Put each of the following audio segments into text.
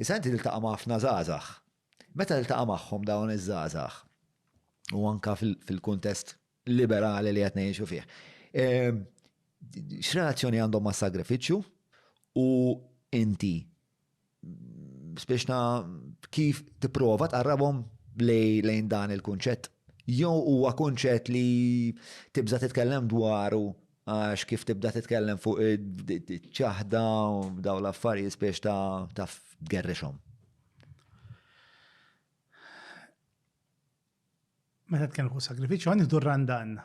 Issa inti tiltaqa' ma' ħafna żgħażagħ. Meta tiltaqa' magħhom dawn iż-żgħażagħ u anka fil-kuntest liberali li qed ngħixu fih, ehm, x'relazzjoni għandhom ma' sagrifiċċju u inti biex ta' kif tipprova tqarrabhom lejn dan il-kunċett? Jew huwa kunċett li tibża' titkellem dwaru Għax kif tibda titkellem fuq ċaħda u daw l-affarijiet spiex ta' taf tgerrixhom. Meta tkellem fuq sagrifiċċju għandi dur randan.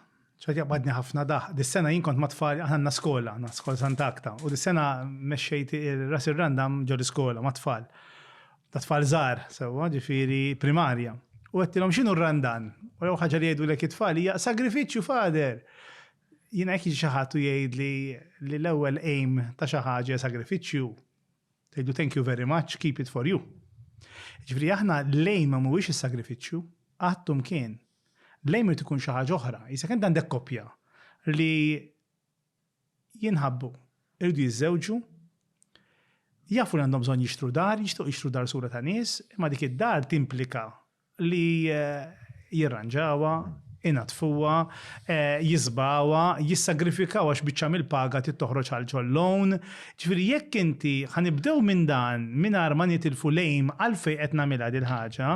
ċaħt jaqbadni ħafna daħ. Dis-sena jien kont matfal għandna skola, għandna skola Sant'Akta. U dis-sena mexxejt ras ir-randam ġol iskola matfal. Ta' tfal żgħar sewwa, ġifieri primarja. U għedtilhom x'inhu r-randan? U l-ewwel ħaġa li jgħidulek it-tfal hija sagrifiċċju fader. Jiena jekk jiġi xi ħadd u jgħidli li l-ewwel aim ta' xi ħaġa hija sagrifiċċju, ngħidlu thank you very much, keep it for you. Jiġifieri aħna l-aim ma mhuwiex is-sagrifiċċju, qatt u mkien. L-aim irid ikun xi ħaġa oħra. Isek int għandek koppja li jinħabbu, iridu jiżżewġu, jafu li għandhom bżonn jixtru dar, jixtiequ jixtru dar sura ta' nies, imma dik id-dar timplika li jirranġawha, inaddfuha, jisbgħuha, jissagrifikawha għax biċċa mill-paga trid toħroġ għal ġol-lawn. Ġifieri jekk inti, ħa nibdew minn dan mingħajr ma nitilfu l-aim għalfejn qed nagħmilha dil-ħaġa,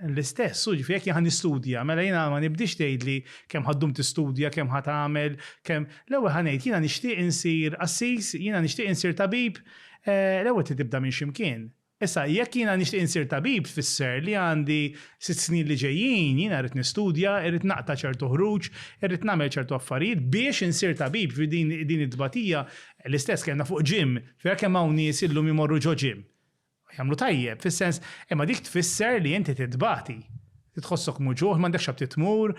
l-istess hu, ġifieri jekk jien ħa nistudja, mela jiena ma nibdiex tgħidli kemm ħa ddum tistudja, kemm ħa tagħmel, kemm, l-ewwel ħa ngħid jiena nixtieq insir qassis, jiena nixtieq insir tabib, l-ewwel trid tibda minn xi mkien. Issa, jekk jiena nixtieq insir tabib tfisser li għandi sitt snin li ġejjin, jiena rrid nistudja, irrid naqta' ċertu ħruġ, irrid nagħmel ċertu affarijiet biex insir tabib. Din it-tbatija l-istess kellna fuq gym. Vera kemm hawn nies illum imorru ġo gym. Jagħmlu tajjeb, fis-sens, imma dik tfisser li inti titbati. Tħossok muġugħ, m'għandekx għad tmur,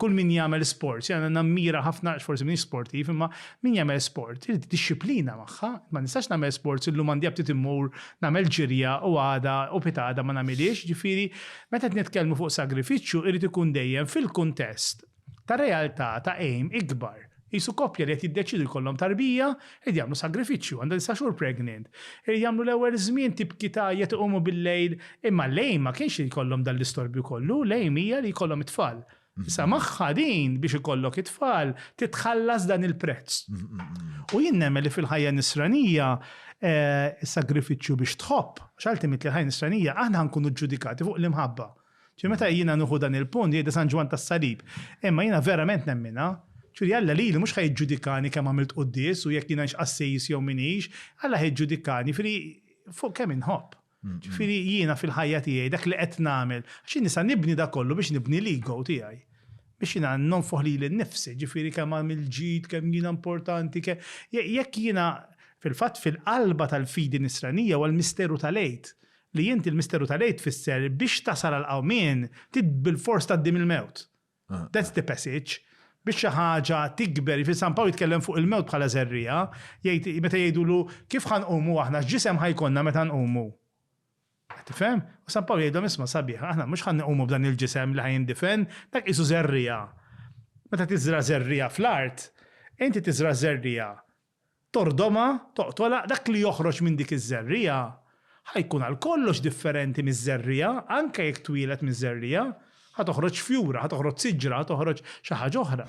kull min jagħmel sport, jiena nammira ħafna għax forsi m'iniex sportiv, imma min jagħmel sport irid id-dixxiplina magħha. Ma nistax nagħmel sport illum għandi aptit immur nagħmel ġirja u għada u pitgħada ma nagħmilhiex, jiġifieri meta qed nitkellmu fuq sagrifiċċju irid ikun dejjem fil-kuntest ta' realtà ta' għejm ikbar, qisu koppja li qed jiddeċiedu jkollhom tarbija, qed jagħmlu sagrifiċċju, għandha disa' xhur pregnant, irid jagħmlu l-ewwel żmien tibki tgħajjat iqumu bil-lejl, imma l-għejm ma kienx li jkollhom dan l-istorbju kollu, l-għejm hija li jkollhom it-tfal. Issa magħha din biex ikollok it-tfal trid tħallas dan il-prezz. U jien nemmen li fil-ħajja nisranija is-sagrifiċċju biex tħobb, għax ultimately l-ħajja nisranija aħna ħankunu ġġudikati fuq l-imħabba. Ġifieri meta jiena nieħu dan il-punt jgħidha San Ġwann tas-Salib. Imma jiena verament nemminha. Ġifieri Alla lili mhux ħa jiġġudikani kemm għamilt quddies u jekk jiena hix qassis jew m'iniex, Alla ħa jiġġudikani jifieri fuq kemm inħobb. Ġifieri jiena fil-ħajja tiegħi dak li qed nagħmel, għax jien nista' nibni dak kollu biex nibni l-ego tiegħi. Biex jiena nonfoħ lili nnifsi, ġifieri kemm għamilt ġid, kemm jiena importanti, kemm. Jekk jiena, fil-fatt fil-qalba tal-fidi Nisranija huwa l-misteru tal-Għid. Li inti l-misteru tal-Għid tfisser biex tasal għall-qawmien trid bilfors tgħaddi mill-mewt. That's the passage. Biex xi ħaġa tikber, jiġifieri San Pawl jitkellem fuq il-mewt bħala żerriegħa, jgħid meta jgħidulu kif ħa nqumu aħna, x'ġisem ħa jkollna meta nqumu? Qed tifhem? U San Pawl jgħidlhom isma' sabiħ, aħna mhux ħa nqumu b'dan il-ġisem li ħa jindifen, dak qisu żerriegħa. Meta tiżra' żerriegħa fl-art, inti tiżra' żerriegħa, tordhomha, toqtolha, dak li joħroġ minn dik iż-żerriegħa ħa jkun għal kollox differenti miż-żerriegħa, anke jekk twieled miż-żerriegħa, ħa toħroġ fjura, ħa toħroġ siġra, ħa toħroġ xi ħaġa oħra.